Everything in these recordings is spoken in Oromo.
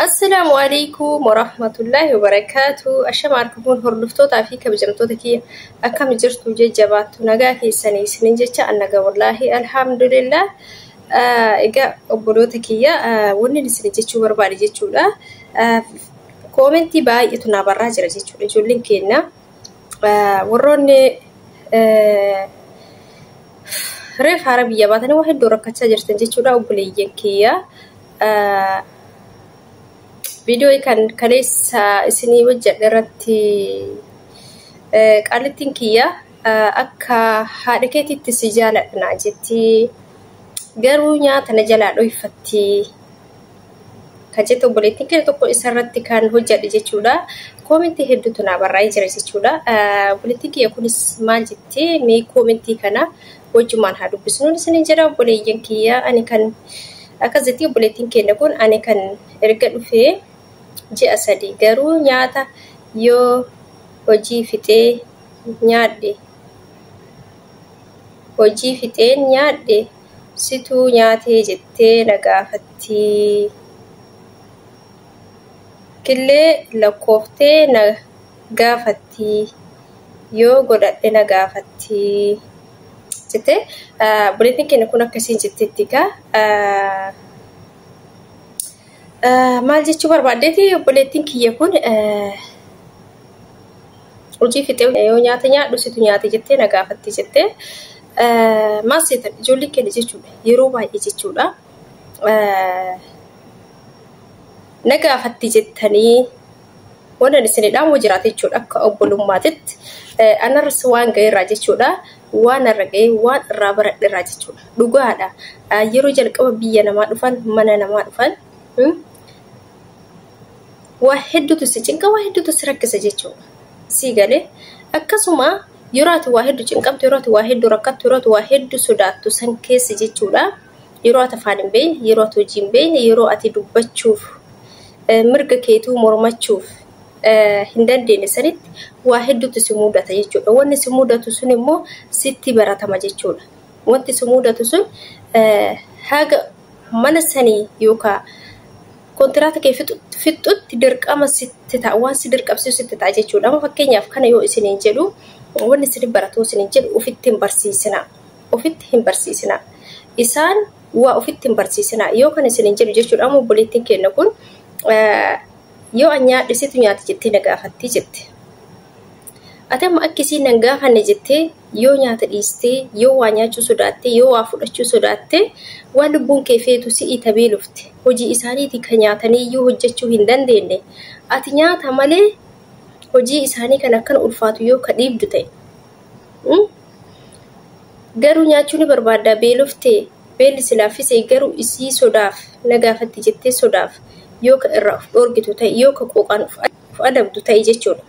Assalaamu alaikum warahmatullaahi wabarakaatu. Ashama arkamuun hordoftootaa fi kabajamtoota kiyya akkam jirtu jajjabaattu nagaa keessanii isinin jecha an nagaa wallaahi alhamdulillah. Ah, Egaa obboloota kiyya ah, wanni isin jechuu barbaade jechuudha. Ah, Koomentii baay'eetu naa barraa jira jechuudha ijoolleen keenya. Ah, Warroonni eh, Reef haara biyya baatanii waa hedduu rakkachaa jirtan jechuudha obboleeyyan kiyya. Viidiyoo kan kaleessa isinii hojjedhe irratti qaalittiin kiyya akka haadha keetiitti si jaaladha jetti. Garuu nyaata na jalaa dhoyfatti. Kan jettu obboleettiin keenya tokko isarratti kan hojjedhe jechuudha. Koomentii hedduutu naa barraa'ee jira jechuudha. Obboleettiin kiyya kunis maal jetti mee koomentii kana wajjumaan haa dubbisnu isiniin jedha obboleeyyan kiyya ani kan akkas jetti obboleettiin keenya kun ani kan erga dhufee ji'a sadii garuu nyaata yoo hojii fixee nyaadhe hojii fixeen nyaadhe Situu nyaatee jettee na gaafattii. Killee lakkooftee na gaafattii. Yoo godhadhe na gaafattii. Jettee buleetiin keenya kun akkasiin jetteetti kaa. Maal jechuu barbaaddeeti obboleettiin kiyya kun hojii fixee yoo nyaata nyaadhu situ nyaate jettee na gaafatti jettee maal seetan ijoollee keenya jechuudha yeroo baay'ee jechuudha na gaafatti jettanii Wanan isin dhaamu jiraate jechuudha akka obbolummaatitti anarras waan ga'eerraa jechuudha waan irra ga'ee waan irraa baradherraa jechuudha dhugaadha yeroo jalqaba biyya namaa dhufan mana namaa dhufan waa hedduutu si cinqa waa hedduutu si rakkisa jechuudha sii galee akkasuma yeroo ati waa hedduu cinqamtu yeroo ati waa hedduu rakkattu yeroo ati waa hedduu sodaattu san keessa jechuudha. yeroo ati afaan hin beekne, yeroo ati hojii hin beekne, yeroo ati dubbachuuf, mirga keetuu mormachuuf hin dandeenye sanitti waa hedduutu si mudata jechuudha. Wanni si mudatu sun immoo sitti baratama jechuudha. Wanti si mudatu sun haga mana sanii yookaan kontiraata kee fixxutti dirqama sitti ta'a waan si dirqamsiisu sitti ta'a jechuudha. Amma fakkeenyaaf kana yoo isiniin jedhu wanni isin baratoo isiniin jedhu ofitti hin barsiisina. Ofitti hin barsiisinaa. Isaan waa ofitti hin barsiisinaa. Yoo kan isinin jedhu jechuudha amma obboleettiin keenna kun yoo an nyaadhe situ nyaata jettee na gaafattii jette. Ati amma akki isiin nan gaafanne jettee yoo nyaata dhiistee yoo waa nyaachuu sodaattee yoo waa fudhachuu sodaattee waan lubbuun kee feetu si'ii tabee lufte hojii isaaniitii kan nyaatanii iyyuu hojjechuu hin dandeenye ati nyaata malee hojii isaanii kan akkana ulfaatu yoo ka dhiibdu ta'e garuu nyaachuu ni barbaaddaa beeloftee beelli si laaffise garuu isii sodaaf na gaafatti jettee sodaaf yoo ka irraa of dhoorgitu ta'e yoo ka qooqaan of adabdu ta'e jechuudha.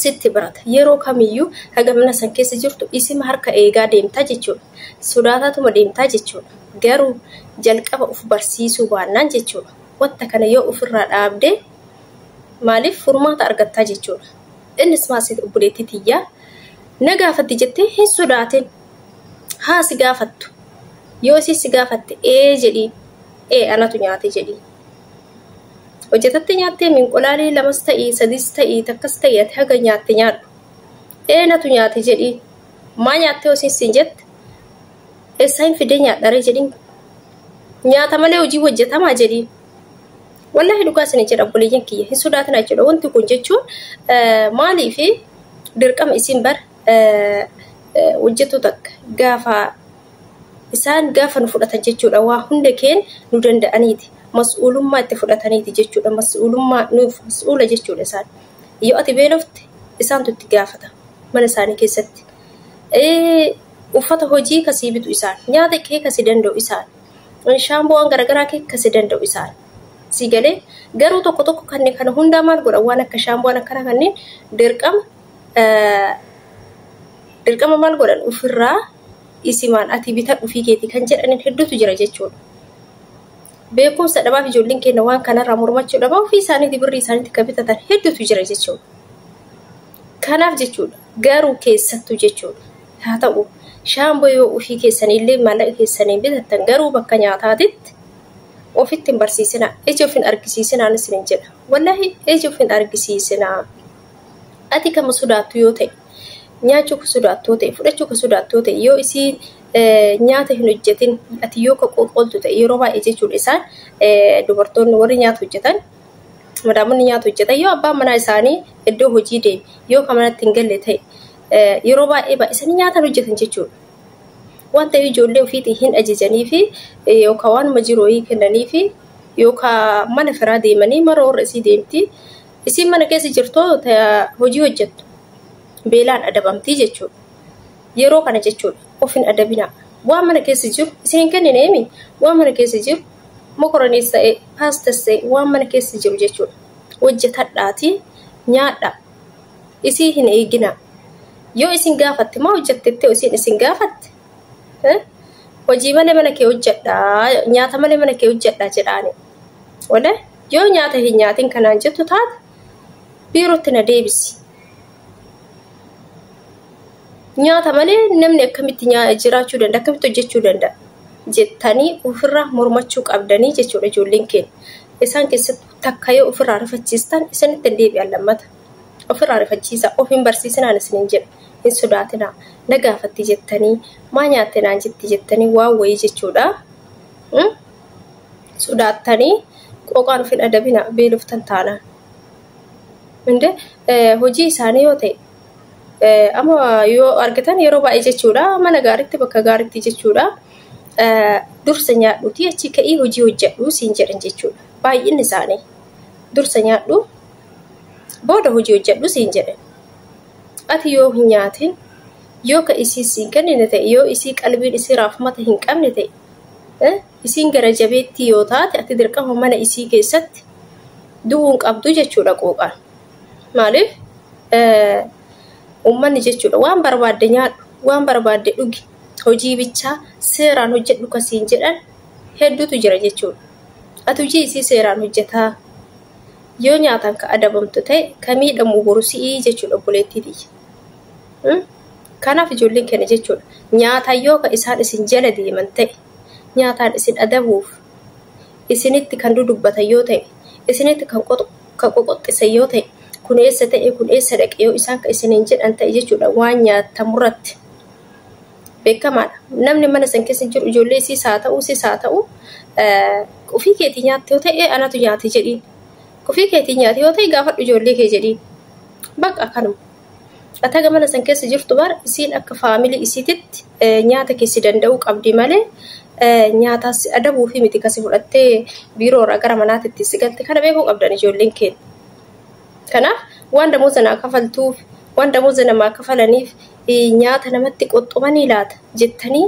Sitti baata yeroo kamiyyuu haga mana san keessa jirtu isima harka eegaa deemtaa jechuudha. Sodaataatuma deemtaa jechuudha. Garuu jalqaba of barsiisuu baannaan jechuudha. Wanta kana yoo ofirraa dhaabdee maaliif furmaata argattaa jechuudha. Innis maal seete obboleettii tiyya na gaafatti jettee hin sodaatin. Haa si gaafattu. Yoo isin si gaafatte ee jedhiin. Ee anatu nyaate jedhiin. Hojjetatte nyaattee minqolaalii lamas ta'ii sadis ta'ii takkas ta'ii ati haga nyaatte nyaadhu. Ee natu nyaate jedhiin. Maa nyaattee isin siin jette eessaa hin fidee nyaadharee jedhiin. Nyaata malee hojii hojjetamaa jedhiin. Wallaahi dhugaa isin jedha obboleeyyan kiyya hin sodaatina jechuudha. Wanti kun jechuun maaliif dirqama isin bar hojjetu takka gaafa isaan gaafa nu fudhatan jechuudha waa hunda keen nu danda'aniiti mas'uulummaa itti fudhataniiti jechuudha mas'uulummaa nuuf mas'uula jechuudha isaan yoo ati beelofte isaantu itti gaafata mana isaanii keessatti uffata hojii kasii bitu isaan nyaata kee kasii danda'u isaan shaamboowwan garaagaraa keessi danda'u isaan. Sii galee garuu tokko tokko kanneen kana hundaa maal godhan waan akka shaamboowwan akkana kanneen dirqama dirqama maal godhan ofirraa isimaan ati bitan ofii keetii kan jedhaniin hedduutu jira jechuudha. Beekumsa dhabaaf ijoolleen keenya waan kanarraa mormachuu dhabaa ofii isaaniitii birrii isaaniitti kan bitatan hedduutu jira jechuudha. Kanaaf jechuudha garuu keessattuu jechuudha. haa ta'u shaamboo yoo ofii keessanii illee maallaqa keessaniin bitattan garuu bakka nyaataatitti ofitti hin barsiisinaa ija of hin argisiisinaan isin hin jedha wallaahi ija of hin argisiisinaa ati kama sodaattu yoo ta'e nyaachuu ka sodaattu yoo ta'e fudhachuu ka sodaattu yoo ta'e yoo isii nyaata hin hojjetin ati yoo ka qoqooltu ta'e yeroo baay'ee jechuudha isaan dubartoonni warri nyaata hojjetan madaamonni nyaata hojjetan yoo abbaan manaa isaanii iddoo hojii deeme yoo ka manatti hin galle ta'e yeroo baay'ee baay'isanii nyaatan hojjetan jechuudha. Waan ta'eef ijoollee ofiitiin hin ajajanii fi yookaan waanuma jiru wayii kennanii fi yookaan mana firaa deemanii mara warra isii deemti. Isiin mana keessa jirtoo hojii hojjettu beelaan adabamtii jechuudha. Yeroo kana jechuudha of hin adabinaa. Waan mana keessa jiru isin hin kennineemi waan mana keessa jiru mokoroniis ta'e paastas ta'e waan mana keessa jiru jechuudha. Hojjetadhaatii nyaadhaa. isii hin eeginaa yoo isin gaafatte maa hojjattettee isiin isin gaafatte Eh? hojii malee mana kee hojjadhaa nyaata malee mana kee hojjadhaa jedhaani wala yoo nyaata hin nyaatin kanaan jettu taate biirootti na deebisi nyaata malee namni akkamitti nyaa- jiraachuu danda'a akkamitti hojjechuu danda'a jettanii ofirraa mormachuu qabdanii jechuudha ijoolleen keenya isaan keessatti takka yoo ofirraa rifachiistan isinitti hin deebi'an lammata. Ofirraa rifachiisaa, of hin barsiisinaan isiniin jedha. Hin sodaatinaa. Na gaafatti jettanii, maa nyaatte naan jetti jettanii waan wayii jechuudha. Hmm? Sodaattanii qooqaan of hin adabinaa beeloftan taanaan. Inde eh, hojii isaanii yoo ta'e eh, amma yoo argitan yeroo baay'ee jechuudha mana gaariitti bakka gaariitti jechuudha eh, dursa nyaadhuutii achi ka'ii hojii hojjedhu siin jedhan jechuudha. Baay'inni isaanii. Dursa nyaadhu booda hojii hojjedhu siin jedhe. Ati yoo hin nyaatin yoo ka isii siin kennine ta'e yoo isii qalbiin isii raafmata hin qabne ta'e eh, isiin gara jabeettii yoo taate ati dirqama mana isii keessatti du'uun qabdu jechuudha quuqaan. Maaliif eh, uummanni jechuudha waan barbaadde nyaadhu waan barbaadde dhugi hojii bichaa seeraan hojjedhu ka siin jedhan hedduutu jira jechuudha. Ati hojii isii seeraan hojjetaa yoo nyaataan ka adabamtu ta'e ka miidhamu boru si'ii jechuudha obboleettii tiyya. Hmm? Kanaaf ijoolleen keenya jechuudha nyaataan yoo ka isaan isin jala deeman ta'e nyaataan isin adabuuf isinitti kan dudubbatan yoo ta'e isinitti kan qoxo- kan qoqoxxisan yoo ta'e kun eessa ta'e kun eessa dhaqe yoo isaan ka isiniin jedhan ta'e jechuudha waan nyaatamurratti. beekamaadha. Namni mana san keessa jiru ijoollee isiis haa ta'u sis haa ta'u ofii keetii nyaatte yoo ta'e anatu nyaate jedhiin. Ofii keetii nyaate yoo ta'e gaafadhu ijoollee kee jedhiin. Baqa kanuma. Ataga mana san keessa jirtu bar isiin akka faamilii isiititti nyaata kee si danda'uu qabdi malee nyaataa si adabuu fi miti kasi fudhattee biiroorraa gara manaatitti si galte kana beekuu qabdan ijoolleen keenya. Kanaaf waan damooza naa kafaltuuf, waan damooza namaa kafalaniif nyaata namatti qoxxumanii laata jettanii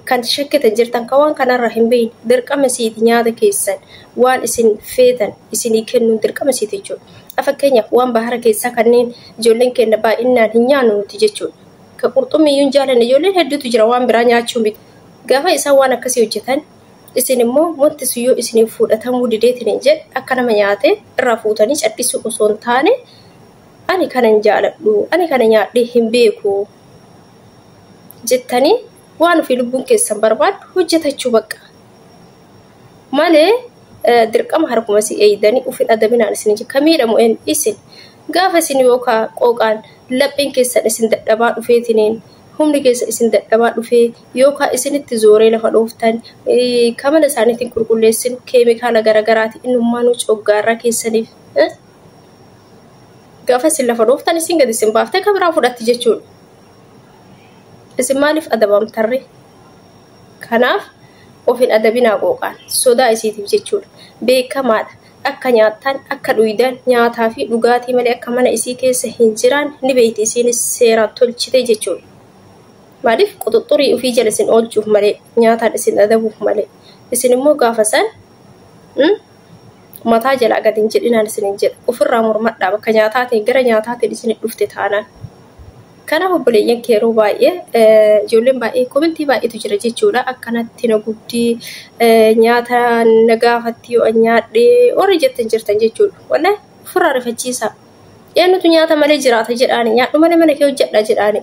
kan shakkitan jirtan kan waan kanarraa hin beekne dirqama isiiti nyaata keessan waan isin feetan isinii kennuun dirqama isiiti jechuudha. Fakkeenyaaf waan bahara keessaa kanneen ijoolleen keenya baay'inaan hin nyaannu nuti jechuudha. Ka qurxummii iyyuu hin jaalanne ijoolleen hedduutu jira waan biraa nyaachuu miti. Gaafa isaan waan akkasii hojjetan Isin immoo wanti sun yoo isiniif fuudhatamuu dideetiniin jedhe akka nama nyaatee irraa fuutanii cadhisuu osoo hin taane ani kana hin jaaladhu, ani kana nyaadhee hin beeku jettanii waan ofii lubbuun keessan barbaaddu hojjetachuu baqqa. Malee dirqama harkuma si eeydanii ufin adabinaan isin hin ka miidhamu isin gaafa isin yookaa qooqaan laphiin keessan isin dadhabaa dhufeetiniin humni keessa isin dadhabaa dhufee yookaan isinitti zooree lafa dhooftan ka mana isaaniitiin qulqulleessinu keemikaala garagaraati innummaanuu coggaarraa keessaniif gaafa isin lafa dhooftan isin gadi isin baaftee ka biraa fudhatti jechuudha. Isin maaliif adabamtarre? Kanaaf of hin adabinaa qooqaan sodaa isiitiif jechuudha. Beekamaadha. Akka nyaattan akka dhuydan nyaataa fi dhugaatii malee akka mana isii keessa hin jiraan ni beeyti isiinis seeraan tolchite jechuudha. Maaliif quxuxxurii ufii jala isin oolchuuf malee, nyaataan isin adabuuf malee. Isin immoo gaafa san mataa jalaa gad hin jedhinaan isiniin jedha. Ofirraa mormadhaa bakka nyaataatiin gara nyaataatiin isin dhufte taanaan. Kanaaf obboleeyyan kee yeroo baay'ee ijoolleen baay'ee komentii baay'eetu jira jechuudha. Akkanatti na gubdii nyaata na gaafatti yoo an nyaadhee warri jettan jirtan jechuudha. Wallee ofirraa rifachiisaa. Eenyutu nyaata malee jiraata jedhaani nyaadhu malee mana kee hojjedha jedhaani.